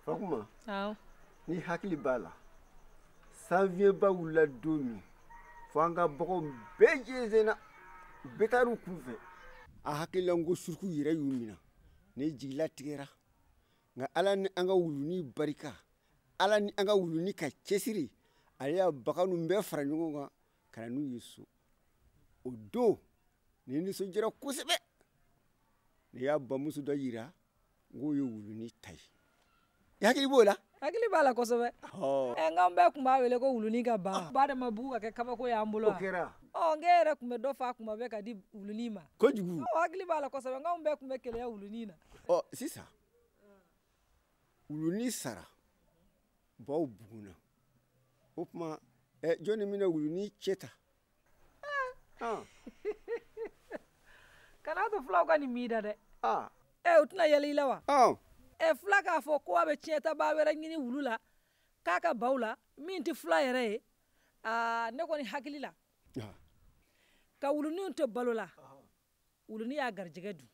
fakuma n'i hakili b'a la sanfiɲɛba wulila don min fo an ka baganw bɛɛ jɛnsɛnna bɛɛ taar'u kun fɛ a hakili la n ko suruku yɛrɛ y'u minɛ ne jigilatigɛra nka ala ni an ka wuluni barika ala ni an ka wuluni ka cɛsiri ale y'a bagan ninnu bɛɛ fara ɲɔgɔn kan ka na n'u ye so o don ne nisɔndiyara kosɛbɛ ne y'a bamuso dɔ yira n k'o ye wuluni ta ye i hakili b'o la hakili b'a la kosɛbɛ ɛ n k'an bɛɛ tun b'a wele ko wuluni ka ba ah. ba de ma bugun ka kɛ kabako y'an bolo wa o kɛra ɔ n k'e yɛrɛ tun bɛ dɔ faa kuma bɛɛ ka di wuluni ma kojugu ɔ hakili b'a la kosɛbɛ n k'anw bɛɛ tun bɛ keleya wuluni na ɔ sisan wuluni sara baw bugunna o tuma eh, jɔnni bɛna wuluni cɛn ta ah. kana to fulaw ka nin m'i da dɛ ah. eh, u tɛna yɛlɛ i la wa ah. eh, fula k'a fɔ ko a bɛ tiɲɛtabaa wɛrɛ ɲini wulu la k'a ka baw la min tɛ fula yɛrɛ ye ah, ne kɔni hakili la ah. ka wuluni to balo la wuluni y'a garijɛgɛ dun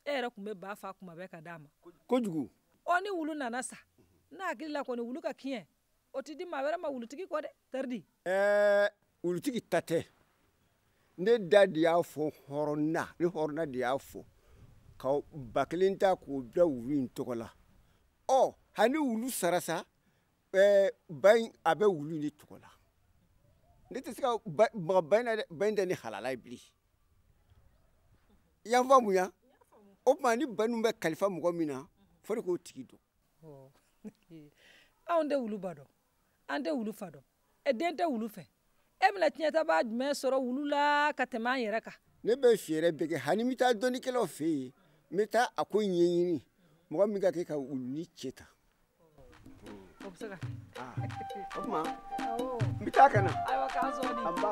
e yɛrɛ tun bɛ ba faa kuma bɛɛ ka d'a ma kojugu ɔ ni wulu nana sa ne hakili la kɔni wulu ka kiɲɛ o tɛ di maa wɛrɛ ma wulutigi kɔ dɛ taridi ɛɛ wulutigi ta tɛ ne da de y'a fɔ hɔrɔn da ne hɔrɔn da de y'a fɔ ka ba kelen ta k'o bila wulu in tɔgɔ la ɔ hali wulu sara sa eh, ba in a bɛ wulu de tɔgɔ la ne tɛ se ka maga ba in na dɛ ba in tɛ ne halala ye bilen i y'a faamuya o tuma ni ba ninnu bɛ kalifa mɔgɔ min na fo ne k'o tigi dɔn anw tɛ wulu ba dɔn an tɛ wulu fa dɔn e den tɛ wulu fɛ e bɛna tiɲɛtabaa jumɛn sɔrɔ wulu la ka tɛmɛ an yɛrɛ kan ne bɛ fɛɛrɛ bɛɛ kɛ hali n bɛ taa dɔnnikɛlaw fɛ yen n bɛ taa a ko ɲɛɲini mɔgɔ min ka kan ka wuluni cɛn ta o bɛ se ka kɛ ah, o tuma n bɛ taa ka na ayiwa k'an sɔɔni anba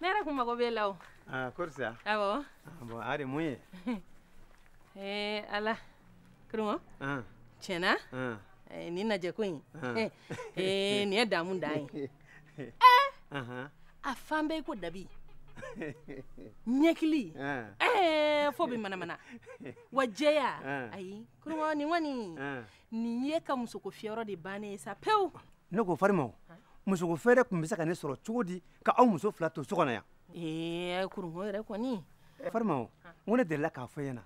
ne yɛrɛ kun mago b'e la o ah, kori sa awɔ ah, bon a de mun ye ee eh, ala kurunko ah. tiɲɛ na eh, nin lajɛko in ee eh, nin ye damu dan ye ee a fan bɛɛ i ko dabi ɲɛkili ɛɛ fo bi manamana wa jɛya ayi kurunko nin kɔni nin y'e ka musoko fiyɔrɔ de bannen ye sa pewu ne ko farima o musoko feere tun bɛ se ka ne sɔrɔ cogo di ka aw muso fila to so kɔnɔ yan ee kurunko yɛrɛ kɔni farima o n ko ne delila k'a fɔ i ɲɛna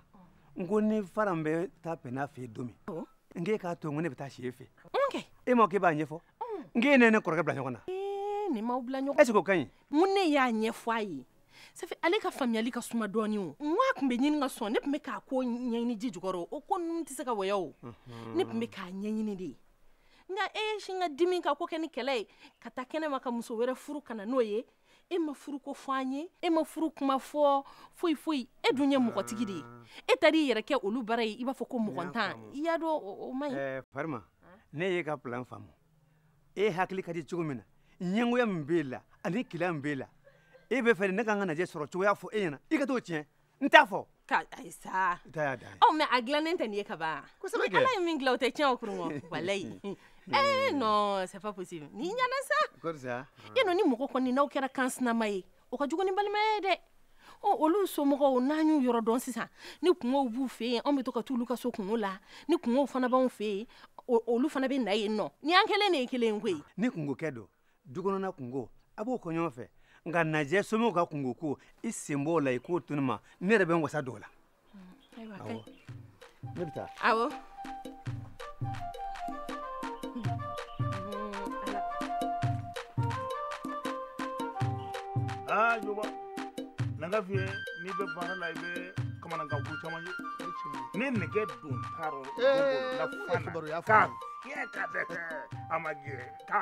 n ko ni faran bɛ taa pɛnna fɛ yen don min n k'e k'a to n ko ne bɛ taa si e fɛ e ma k'e b'a ɲɛfɔ n k'e ne ni kɔrɔkɛ bila ɲɔgɔn na ni n m'aw bila ɲɔgɔn est ce que o ka ɲi n ko ne y'a ɲɛfɔ a ye safi ale ka faamuyali ka suma dɔɔni o n ko a tun bɛ ɲini ka sɔn ne tun bɛ k'a ko ɲɛɲini ji jukɔrɔ o ko ninnu tɛ se ka waya o mhm. ne tun bɛ k'a ɲɛɲini de nka e ye sin ka dimi ka ko kɛ ni kɛlɛ ye ka taa kɛnɛma ka muso wɛrɛ furu ka na n'o ye e ma furu ko fɔ an ye e ma furu kuma fɔ foyi foyi e dun ye mɔgɔtigi de ye e taara i yɛrɛ kɛ olu bara yen i b'a fɔ ko mɔgɔntan i y'a dɔn o man ɲi. farima ne y'e ka plan faamu e hakili ka di cogo min na ɲɛngoya min b'e la ani keleya min b'e la e bɛ fɛ ne ka n ka najɛ sɔrɔ cogoya fɔ e ɲɛna i ka t'o tiɲɛ n t'a fɔ ka ayi sa ɔ mais a dilannen tɛ nin ye ka ban ni ala ye min dilan o tɛ tiɲɛ o kurun walayi ee non c'est pas possible nin ɲana sa e nɔ ni mɔgɔ kɔni n'aw kɛra kan sinama ye o ka jugu ni balimaya ye dɛ ɔ olu somɔgɔw n'an y'u yɔrɔ dɔn sisan ni kunkow b'u fɛ yen anw bɛ to ka t'olu ka so kunko la ni kunkow fana b'anw fɛ yen olu fana bɛ na yen nɔ ni an kɛlen de ye kelen ye koyi ni kunko kɛ don dukɔnɔna kunko an b'o kɛ ɲɔgɔn fɛ nka najɛ somɔgɔw ka kunko ko i sen bɔ o la i k'o to ne ma ne yɛrɛ bɛ n wasa don o la ayiwa ka ɲi ne bɛ taa awɔ aa joba na n k'a f'i ye n'i bɛ baara la i bɛ kamanagan ko caman ye ni nɛgɛ don ta rɔ ne bolo la fan na k'a fiyɛ ka dɛsɛ a ma jɛ k'a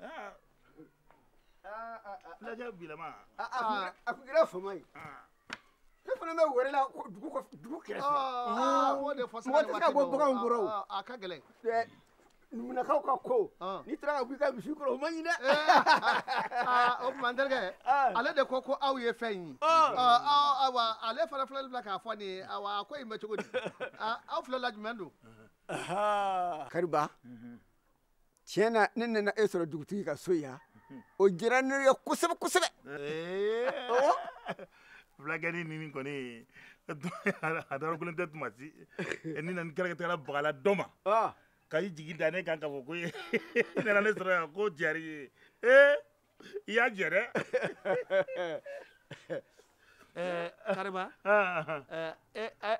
Ah. Ah, ah, ah. Fulakɛ bilama. A a kun kɛra- a kun kɛra fama ye Ah. ne fana bɛ wɛrɛ la ko dugu kɔfɛ dugu kɛrɛfɛ Ah, o de fɔ mɔgɔ tɛ se ka bɔ baganw kɔrɔ o. a ka gɛlɛn Ɛ, numunakaw ka ko Ah. n'i taara ka bɔ i ka misi kɔrɔ o man ɲi dɛ Ah, o tuma n terikɛ Ah. ale de ko ko aw ye fɛn in ye Ah. Ah, ah, awa ale fana filɛli bila k'a fɔ nin ye awa a ko in bɛ cogo di Ah, aw fila la jumɛn don kariba tiɲɛ na ne nana e sɔrɔ dugutigi ka so yan o diyara ne ye kosɛbɛ kosɛbɛ fulakɛnin nin kɔni a darakulen tɛ tuma si ni na ni kɛlɛkɛtala bagala dɔ ma ka i jigi da ne kan k'a fɔ ko i nana ne sɔrɔ yan ko jari ye ee i y'a jɛ dɛ kariba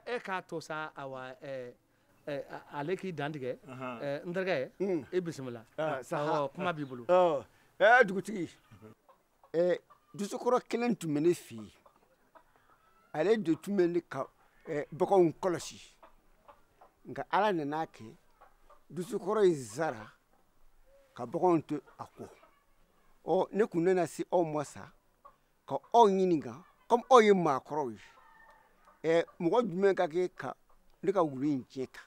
e k'a to sa awa Eh, ale k'i dantigɛ eh, n terikɛ hmm. i bisimila ah, oh, kuma b'i bolo oh, eh, dugutigi dosokɔrɔ kelen tun bɛ ne fɛ yen ale de tun bɛ ne ka baganw kɔlɔsi nka ala nan'a kɛ dosokɔrɔ in sara ka baganw to a kɔ ɔ ne tun nana se aw ma sa ka aw ɲininka komi aw ye maakɔrɔw ye ɛ mɔgɔ jumɛn ka kan ka ne ka wulu in tiɲɛ ta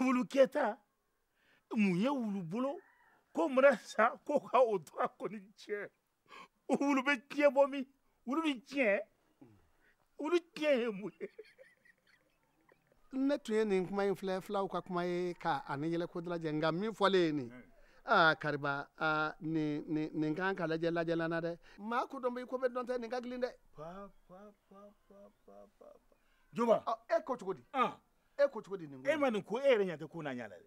wulu tiɲɛ ta mun ye wulu bolo ko mana sa ko ka o to a kɔni tiɲɛ wulu bɛ tiɲɛ bɔ min wulu bɛ tiɲɛ wulu tiɲɛ ye mun ye ne tun ye nin kuma in filɛ fulaw ka kuma ye ka ani yɛlɛko dalajɛ nka min fɔlen ye nin aa kariba aa nin nin nin kan ka lajɛ lajɛlan na dɛ maa ko dɔn bɛ i ko bɛɛ dɔn tɛ nin ka gilin dɛ juba e ko cogo di e ko cogo di nin ko e ma nin ko e yɛrɛ ɲɛ tɛ ko n'a ɲɛ la dɛ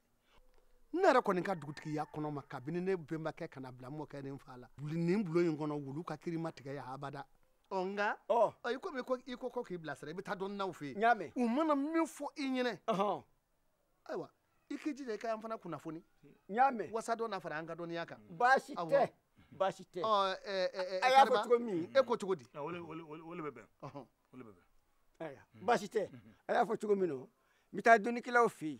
ne yɛrɛ kɔni ka dugutigiya kɔnɔ ma kabini ne bɛnbakɛ ka na bila mɔkɛ ni n fa la nin bulon in kɔnɔ wulu ka kiri ma tigɛ yan abada ɔ nka i komi i ko ko k'i bilasira i bɛ taa dɔnnaw fɛ yen u mana min fɔ i ɲɛnɛ ayiwa i k'i jija i ka an fana kunnafoni wasa dɔ na fara an ka dɔnniya kan baasi tɛ baasi tɛ a y'a fɔ cogo min e ko cogo di o le bɛ bɛn baasi tɛ a y'a fɔ cogo min na n bɛ taa dɔnnikɛlaw fɛ yen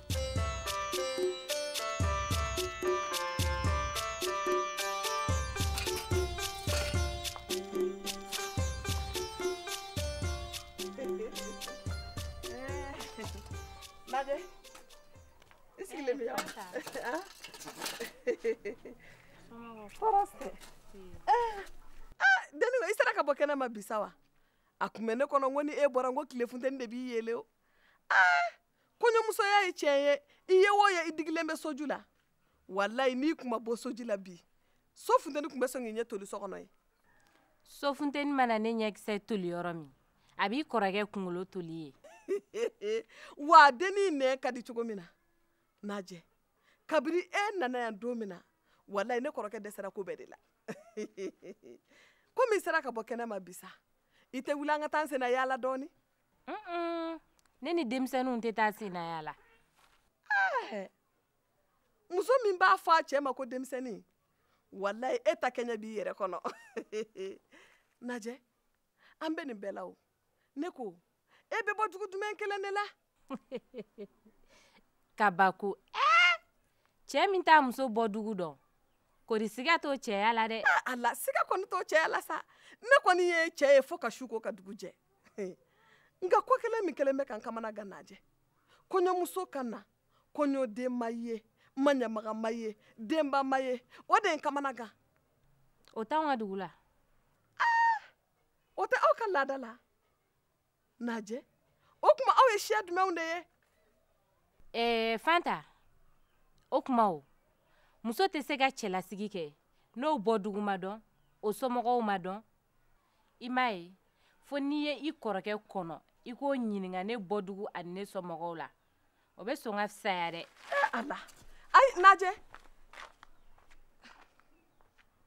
Najɛ, n sigilen bɛ yan. Tɔɔrɔ tɛ. Dennin i sera ka bɔ kɛnɛ ma bi sa wa? A kun bɛ ne kɔnɔ n ko ni e bɔra n ko tile funteni de b'i yeelen o. kɔɲɔmusoya ye tiɲɛ ye i ye o ye i digilen bɛ soju la walayi n'i kun ma bɔ soju la bi so funteni kun bɛ sɔn k'i ɲɛ toli so kɔnɔ yen so funteni mana ne ɲɛkisɛ toli yɔrɔ min a b'i kɔrɔkɛ kunkolo toli yen wa a dennin nɛn ka di cogo min na najɛ kabiri e nana yan don min na walayi ne kɔrɔkɛ dɛsɛra ko bɛɛ de la komi i sera ka bɔ kɛnɛ ma bi sa i tɛ wuli an ka taa an senna yaala dɔɔni ne ni denmisɛnninw tɛ taa senna yaala eh, muso min b'a fɔ a cɛ ma ko denmisɛnnin walayi e ta kɛɲɛ b'i yɛrɛ kɔnɔ najɛ an bɛ nin bɛɛ la o ne ko e bɛ bɔ dugu jumɛn kelen de la kabako ɛɛ eh, cɛ min t'a muso bɔ dugu dɔn kori siga t'o cɛya la dɛ ah, ala siga kɔni t'o cɛya la sa ne kɔni ye cɛ ye fo ka su ko ka dugu jɛ nka ko kelen min kelen bɛ ka n kamana gan najɛ kɔɲɔmuso ka na kɔɲɔden ma ye maɲamaga ma ye denba ma ye o de ye n kamana gan o t'anw ka dugu la ah! o tɛ aw ka laada la najɛ o tuma aw ye siya jumɛnw de ye ɛɛ eh, fanta o tuma o muso tɛ se ka cɛlasigi kɛ n'o bɔdugu ma dɔn o somɔgɔw ma dɔn i m'a ye fo n'i ye i kɔrɔkɛ kɔnɔ i k'o ɲininka ne bɔdugu ani ne somɔgɔw la o bɛ sɔn ka fisaya dɛ eh, ala ayi najɛ